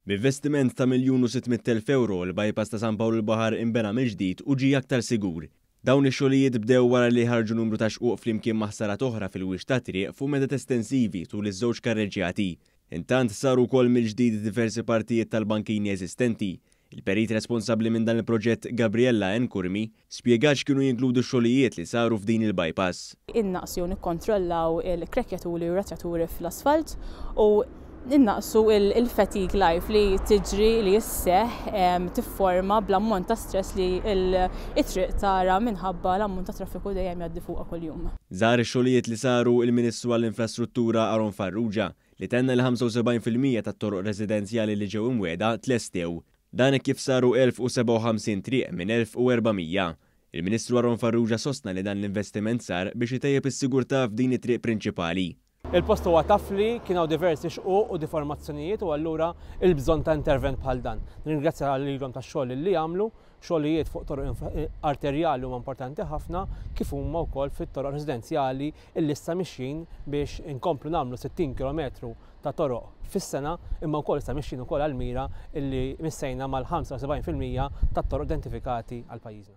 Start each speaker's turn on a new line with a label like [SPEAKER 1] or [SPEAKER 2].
[SPEAKER 1] B'investiment ta' miljun u sitt mitt elf ewro, il-bypass ta' San Pawl il-Baħar inbena mill-ġdid u ġie aktar sigur. Dawn ix-xogħlijiet bdew wara li ħarġu numru ta' xquq flimkien ma' ħsarat oħra fil-wixx tat-triq fuq medet estensivi tul iż-żewġ karreġġjati. Intant, saru wkoll mill-ġdid diversi partijiet tal-bankini eżistenti. Il-perit responsabbli minn dan il-proġett Gabriella N. Curmi spjegat x'kienu jinkludu x-xogħlijiet li saru f'din il-bypass. Innaqsu u
[SPEAKER 2] nikkontrollaw il-krekkjaturi u ratjaturi fl-asfalt u innaqsu l-fatigue life li tiġri li sseħħ tifforma bl-ammont ta' stress li t-triq tara minħabba l-ammont ta' traffiku dejjem jgħaddi fuqha kuljum. Żar ix-xogħlijiet
[SPEAKER 1] li saru l-Ministru għall-Infrastruttura Aaron Farrugia li tenna li 75 fil-mija tat-toroq residenzjali li ġew imwiegħda tlestew. Dan hekk kif saru 1,057 triq minn 1,400. Il-Ministru Aaron Farrugia sostna li dan l-investiment sar biex itejjeb is-sigurtà f'din it-triq prinċipali. Il-post huwa taf
[SPEAKER 3] li kien hawn diversi xquq u deformazzjonijiet u allura il-bżonn ta' intervent bħal dan. Nirringrazzja lilhom tax-xogħol li għamlu Xogħlijiet fuq toroq arterjali huma importanti ħafna kif huma wkoll fit-toroq residenzjali illi issa mixjin biex inkomplu nagħmlu 60 kilometru ta' toroq fis-sena imma wkoll issa mixjin ukoll għall-mira illi missejna mal-75 fil-mija tat-toroq identifikati għal pajjiżna.